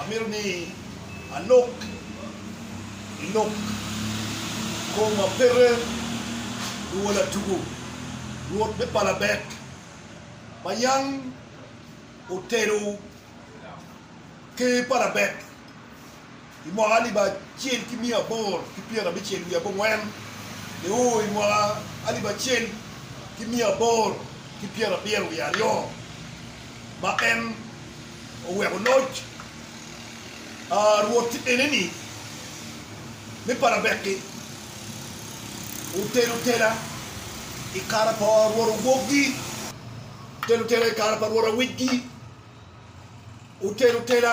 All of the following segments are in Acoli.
Amito ni alok i lok kom ma pete luwo latugo Rwot me palabek ma yam otelo ker palabek. I mwaka alip acel ki miya aboro ki pyerabicel wiye abongwen, ni u i mwaka alip acel ki miya aboro ki pyerabiro wiye aryo, ma en oweko loc Rwot tye ene-ni, ni Parabeki otelo tela i kare pa rwot owokgi, otelo tela i kare pa rwot awicgi, otelo tela.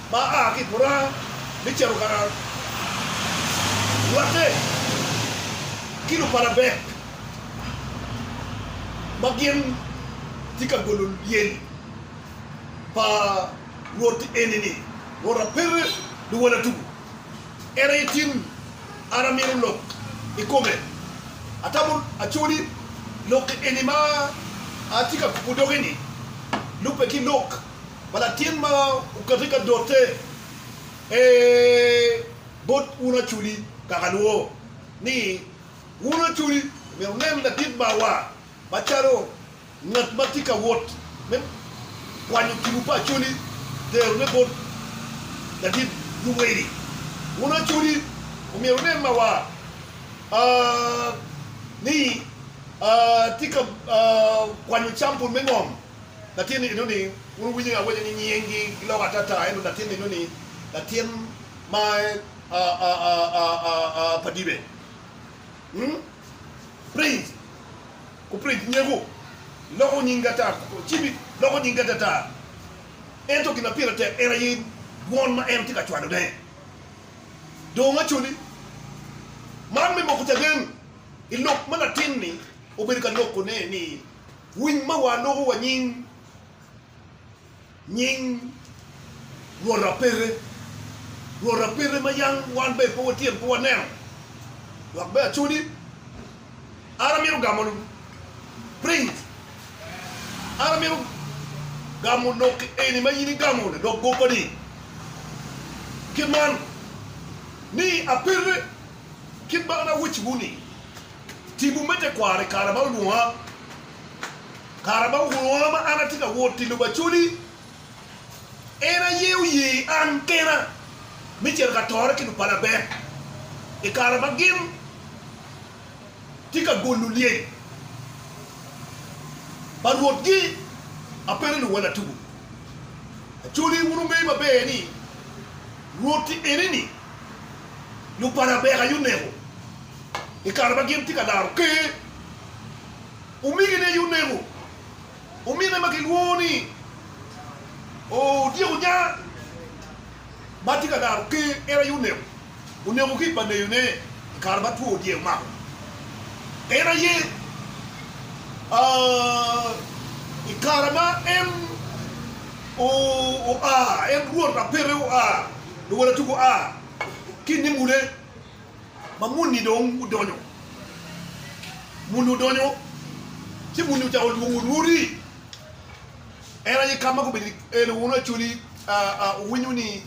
ma a ki i buranga me cito ka raro rwatte ki luparabek ma gin tye ka golo lyel pa Rwot eni-ni, Rwot apete luwala tuku, en aye tin an amino lok i kome. Atamo acoli lok eni ma atye ka kubo doge-ni lubbe ki lok pa latin ma okate ka dote, ee, bot un aculi kaka lwo, ni, Wun aculi omyero wunen ladit marwa macalo ngat ma tye ka wot me kwanyo tipo pa acoli, terone bot ladit luweli. Wun aculi omyero wunen marwa aa, ni, aa, tye ka aa kwanyo campul me ngom Latin eno ni wun wuwinyo ni awaco ni nying gi giloko atata ento latin eno ni latin ma pa dibe? Umm prince ku prince nyeko loko nying gi atata to cibi loko nying gi atata ento gin ma pire tek en aye dwon ma en tye ka cwalo ne dong acoli man me moko caden ilok ma latin ni obedo ka loko ne ni Winy ma waloko wa nying, nying rwot apete, rwot apete ma yam wan bene pe watyen pe waneno dok bene acodi. An amito gamo print, an amito gamo lok eni ma in igamo ladok goppa-ni kit man, ni apete kit ma an awecciwu-ni. Tipo me tekwaro i kare ma olwonga. Kare ma olwonga ma an atye ka wot i lobo Acoli, en aye oye an kena me cito ka tore ki lupalabek i kare ma gin tye ka golo lyel pa Rwotgi. Apengo luwal atugo Acoli, wun wungeyo maber ni Rwoti eni-ni lupalabek aye oneko. i kare ma gin tye ka laro Ker, omegine aye oneko omine ma kilwongo ni Odyek Onyaa ma tye ka laro Ker. En aye oneko, oneko ki i paneyone i kare ma two dyek omako. En aye i kare ma en oa, en Rwot ma peke oa, luwotatugo oa ki i nimude. ma muni dong odonyo, muni odonyo ci muni ocako lwongo Rwodi, en aye kama gubedo i en aye wunu Acholi owinyo ni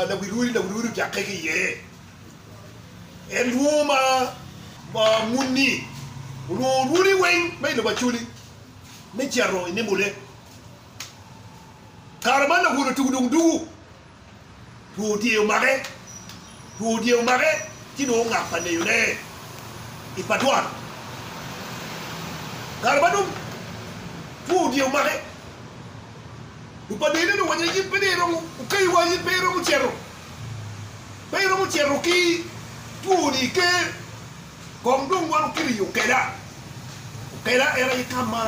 lawi Rwodi, lawi Rwodi ojakke ki iye, en lwongo ma muni olwongo Rwodi weng ma i lobo Acholi me cito i nembone, kare man lawono tugu dong dugu. Two dye omake, two dye omake ci dong ongak pa neyone i pa dwan. Kare ma dong two dye omake, dong pa neyone dong owaco ni in pe dong iromo, okayi wa in pe iromo cito, pe iromo cito ki twoni iker Kong dong wan wukele i okela, okela en aye ka ma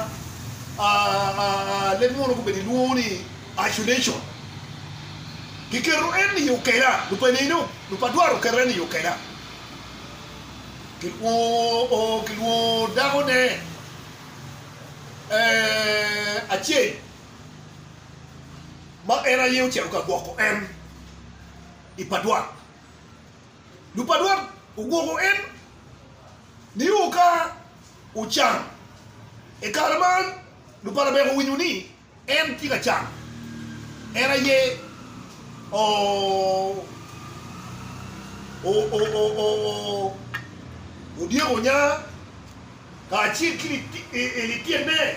leb munu gubedo gilwongo ni isolation. Kiketo en i okela, lupa nino, lupa dwaro keto en i okela. Kilwongo kilwongo dakone acel ma en aye ocito ka gwoko en i pa dwaro. Lupadwat ogwoko en nio ka ocan. I kare man, lupalabek owinyo ni en tye ka can. En aye odyeko nya kacel ki lityenene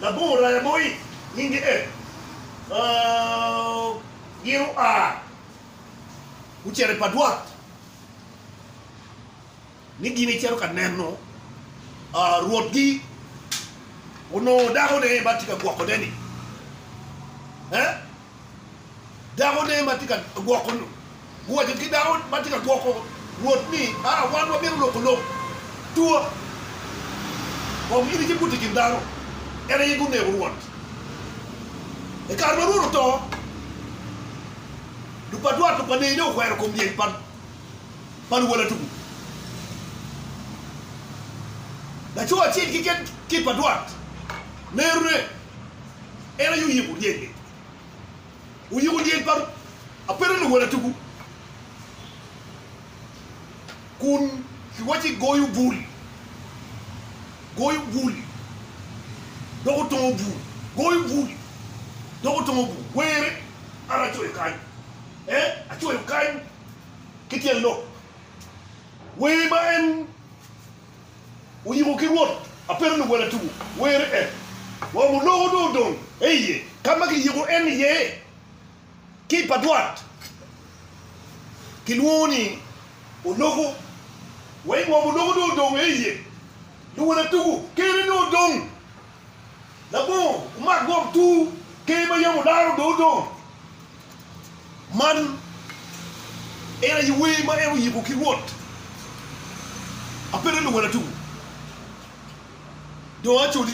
labongo raya mo, nyinge en gin oa. gucito i padwat ni gin icito ka neno rwotgi onongo dakone ma tye ka gwokone-ni. Dakone ma tye ka gwoko guwaco ki dako ma tye ka gwoko rwot ni, Aa, wan wabino loko lok tua kong in icibut i kin dano. En aye guneko rwot. I kare ma rwot oto. Lupadwar to pa Neyi dong okwero kom lyel pa luwala tuku. Laco acel keken ki i padwar nerone en aye oyiko lyel-li. Oyiko lyel pa ape dong luwala tuku. kun kiwacci goyo bul, goyo bul, dok otongo bul, goyo bul, dok otongo bul, were, an acoyo kany, ee, acoyo kany ki tyen lok. Wer ma en oyiko ki Rwot apedo luwela tuku, were en, wamo loko dong odong, ee iye, ka ma kiyiko en iye. Kit pa dwot kilwongo ni oloko. Wa i ngom oloko dong odong aye iye. Luwala tugo kene dong odong. Labongo omak ngom tur ker ma yam olaro dong odong. Man en aye wer ma en oyiko ki Rwot. Apete luwala tugo dong acoli.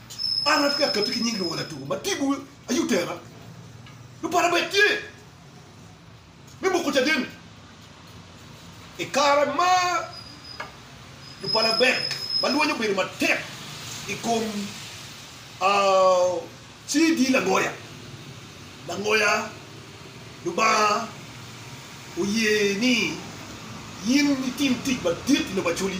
An atye ka katti ki nying luwala tuku ma tipo aye otera nyo para bene tye me moko caden i kare ma lupalabek ma lweny obedo matek i kom CD langoya langoya. Lubanga oye ni in itim tic madit i lobo Acholi.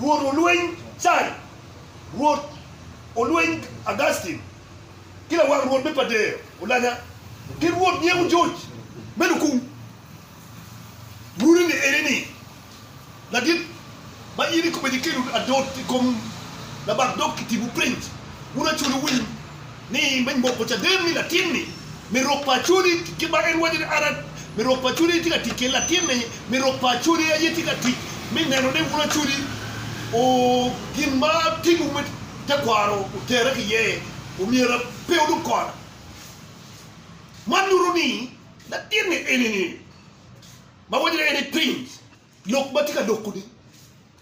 Rwot olweny Cai, Rwot olweny Augustin, ki lawang Rwot me Padea olanya, ki Rwot nyeko George me Lukung. Runi ni eni ni, Ladit, ma in ikobo eni kelo adot i kom labak dog kitibu piny, wun acwele winy. ni me moko caden ni latin-ni me rok pa Acodi kit ma en waco ni an me rok pa Acodi aye tye ka tic kede, latin-ni me rok pa Acodi aye tye ka tic me neno ni wun Acodi o gin ma timwu me tekwaro otere ki iye, omyera pe wudog kona. Man nyuto ni latin-ni eni-ni ma waco ni en i piny lok ma tye ka loko-ni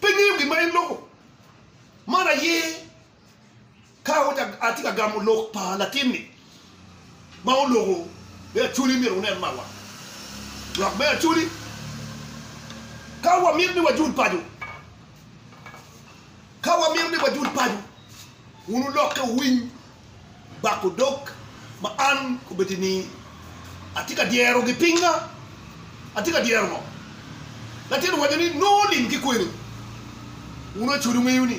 pe ngeyo gin ma en loko. Man aye. Ka atye ka gamo lok pa latinni ma oloko me Acholi, myero wunen marwa lwak me Acholi. Ka wamito ni wajul paco, ka wamito ni wajul paco, wun wulokke wuwiny bak odok ma an obed ni atye ka dyerogi. Pinga atye ka dyero ngo? Latinni owaco ni, Nongo lim ki kweni. Wun Acholi wuŋeyo ni,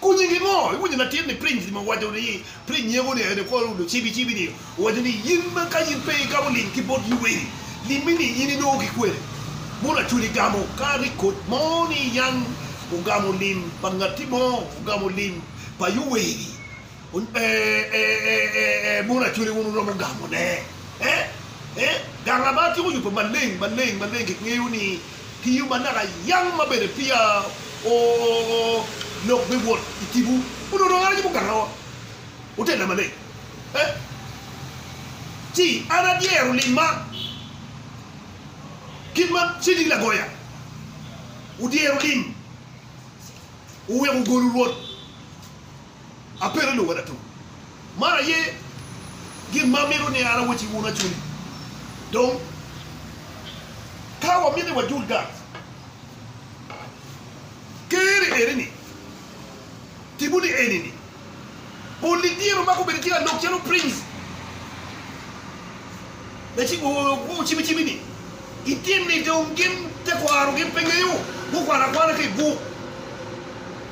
Ku nyingi ngo? Iwinyo latin ni piny ni ma owaco ni piny nyego ni ene kor udo cibi cibi ni owaco ni yin ma ka yin pe igamo lim ki bot luweri limmi ni yin inongo ki kwene mono acwali igamo ka ni kot mo ni yan ogamo lim pa ngati mo ogamo lim pa yuweri Ee, mon Acholi wun wuromo gamone. Ee, gang Labar cik oyubbe maleng, maleng, maleng. Kingeyo ni ki yo manaka yam ma bene peya lok me wot i tipo onongo dong en aye mugangawa. Wutella maleng. Ee, ci an adyero limma kit ma Cedi Lagoya odyero lim, oweko ogolo rwot. Apedo ni wena tum. Man aye gin ma amito ni an awacci wun acuni. Dong, ka wamito ni wajul gang Ker-ri eni-ni, tibu ni eni-ni, Pol-li dyere omako bedo ki lalog calo prince. Cimicimi-ni gitim ni dong gin tekwaro gin pe ngeyo gukwano akwana ki i buk.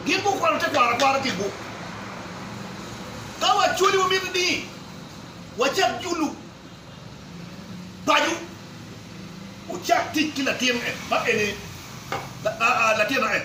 Gin gukwano tekwaro akwara ki i buk. Ka wacwali wamito ni wacak julu paco, wucak tic ki latin en ma en ni, latin ma en.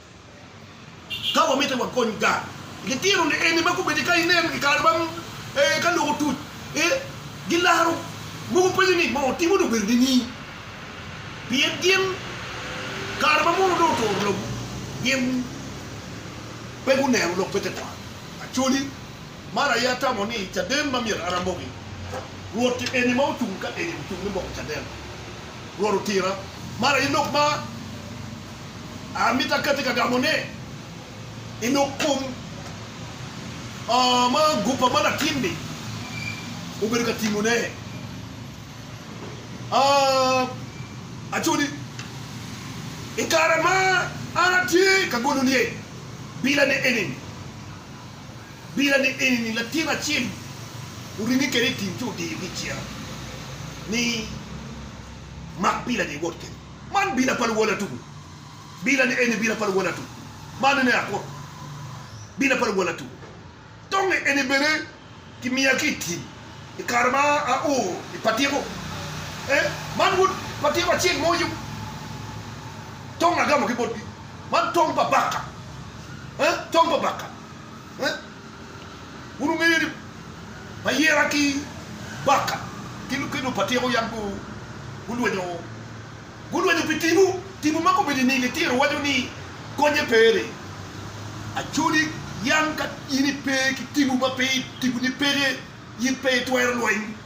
Ka wamite wakony gang, litino lieni ma gubedo ka inen i kare ma ka lok otuc, gilaro mogo penyo ni, 'Moo timo ni obedo nini? Pien gin kare ma mono dong oturo lobo, gin pe guneno lok me tekwaro. Acholi, man aye atamo ni caden ma myero an amoki. Rwot eni ma ocung ka eni ocung me moko caden. Rwot otira. Man aye lok ma. Amito akati ka gamo ne i nuk kom ma gupa ma latin ni obedo ka timo ne. Aco ni i kare ma an atye ka golo niye bila ne eni ni, bila ne eni ni latin acel oringe kede i tim ci odiyo gi ciro ni mak bila ni iwot kede. Man bila pa luwala tuku. Bila ni eni bila pa luwala tuku. Man ene akut bila pa luwala tuku. Tong eni bene ki miya ki i tim i kare ma a o i patiko. Ee, man wod patiko acel mo yung. Tong agamo ki botgi. Man tong pa baka. Ee, tong pa baka. Ee. Wun wungeyo ni Bayera ki Baka ki Lukelo pa Tyeko yam gulwenyo, gulwenyo pi tipo, tipo ma komedo i nige tyer waco ni Konye pe ni Acholi yam ka in ipe ki tipo ma pe tiponi peke, in pe itwero lweny.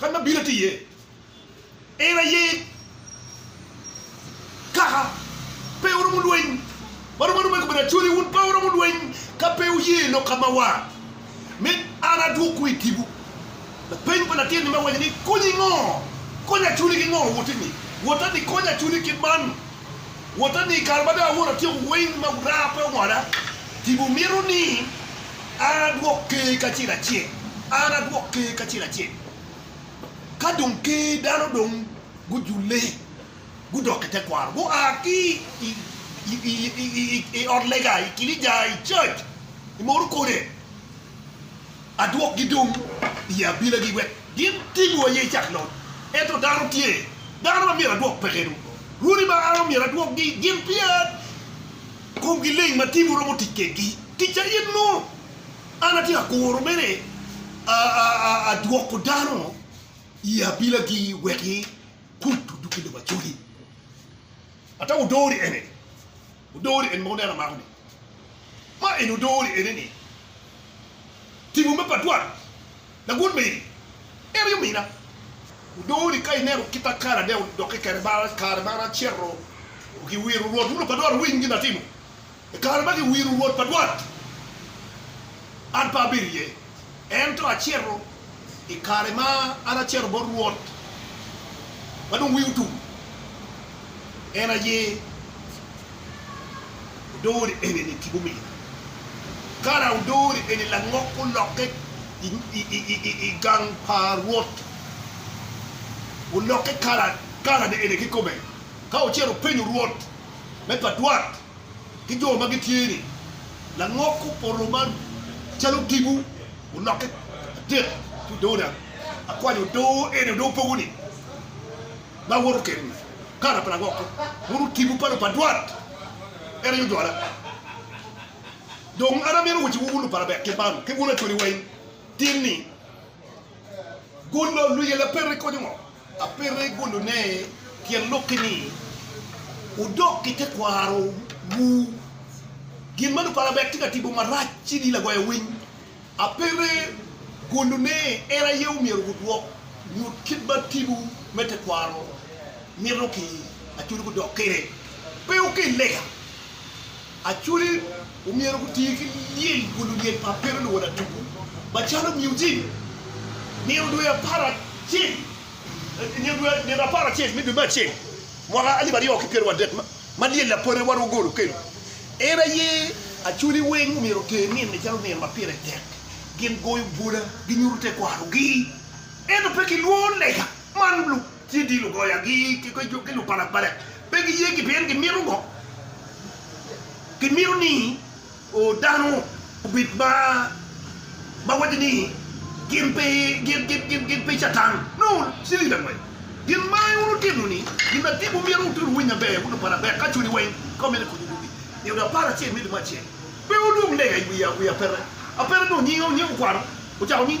Kadi ma bino tye iye, en aye kaka pe oromo lweny. Ma romo aroma i kome ni, Acholi, wun pe wuromo lweny ka pe wuye lok ka ma war, me an adwokwu i tipo. Lapeny pa latin-ni me waco ni, Konyi ngo? Konya Acholi ki ngo? Woti-ni, wota ni konya Acholi kit man. Wota ni i kare ma dong awoto atyeko weng ma wurara pe owoda, tipo mito ni an adwok Ker kacel acel, an adwok Ker kacel acel. Ka dong Ker dano dong gujule, gudok i tekwaro, gua ki i ot lega, i kinica, i church, i mono kode, adwokgi dong i abilagi wek gin tim wo aye icak lony. Ento dano tye, dano ma myero adwok peke dong. Rwodi ma an omyero adwokgi gin pia komgi leng ma timgi romo tic kwedgi. Ticca in nongo, an atye ka kuro mere adwoko dano i abilagi wek gikuc odug i lobo Acoli. Ata wudori ene ni, wudori ene ma wuneno amako ni, ma eni wudori ene ni, timo me pa dwaro lagut meri, en aye omina. Wudori ka ineno kit ma kare ade odokke kede, kare ma an acito ki wiro Rwot, wun opa dwaro winy gin atimo, I kare ma giwiro Rwot pa dwot, an pe abedo iye, ento acito i kare ma an acito bot Rwot ma dong wiye otum, en aye odori eni-ni ki bumina. Kara odori eni langok olokke i gang pa Rwot, olokke kalane eni kikome, ka ocito openyo Rwot me pa dwot. ki jo ma gitye ni langok opoto ma calo odiko olokke adek ki odoo dang akwanyo odoo eni odoo pogo ni ma awoto keni kala pa langok ko mono odiko pa lupadwat en aye odwola dong an amito waci wu wun lupala bek kit man ki wun acwali weng tin ni golo luyela peri konyo ngo. Apito i gulune tyen lok-ki ni, Wudok ki tekwarowu. Gin ma luparabet tye ka timo marac ci ni lagoya winy. Apito i gulune en aye omyero wudwok nyut kit ma timwu me tekwaro mito ki acur gudok kwede. Pe wukel lega. Acholi omyero guti ki lyel kun lulyel pa Pero luwoda tuku macalo muzik. Nino dwe apar acel, nino dwe nino apar acel me dwe me acel mwaka alip aryo ki pyero wadek ma lyel lapore wa Rwogol okelo, en aye Acholi weng omyero oter nino-ni calo nino ma pire tek. Gin goyo bwola, ginyuto tekwarogi, ento pe gilwor lega man. Ci dil ogoyagi ki lupalapala, pe giye ki pien gimito ngo? Gimito ni dano obed ma waco ni gin pe Catan. Nongo cilili angwen gin ma wun wutimo ni gin ma dibu myero wutye wunu winyo maber, wun lupala bek ka cwinyu weng ka wumito konyo yugi. I ot apar acel me limo acel, pe wulwong lega i wi apeta. Apeta dong nyinge okwano, ocako ni.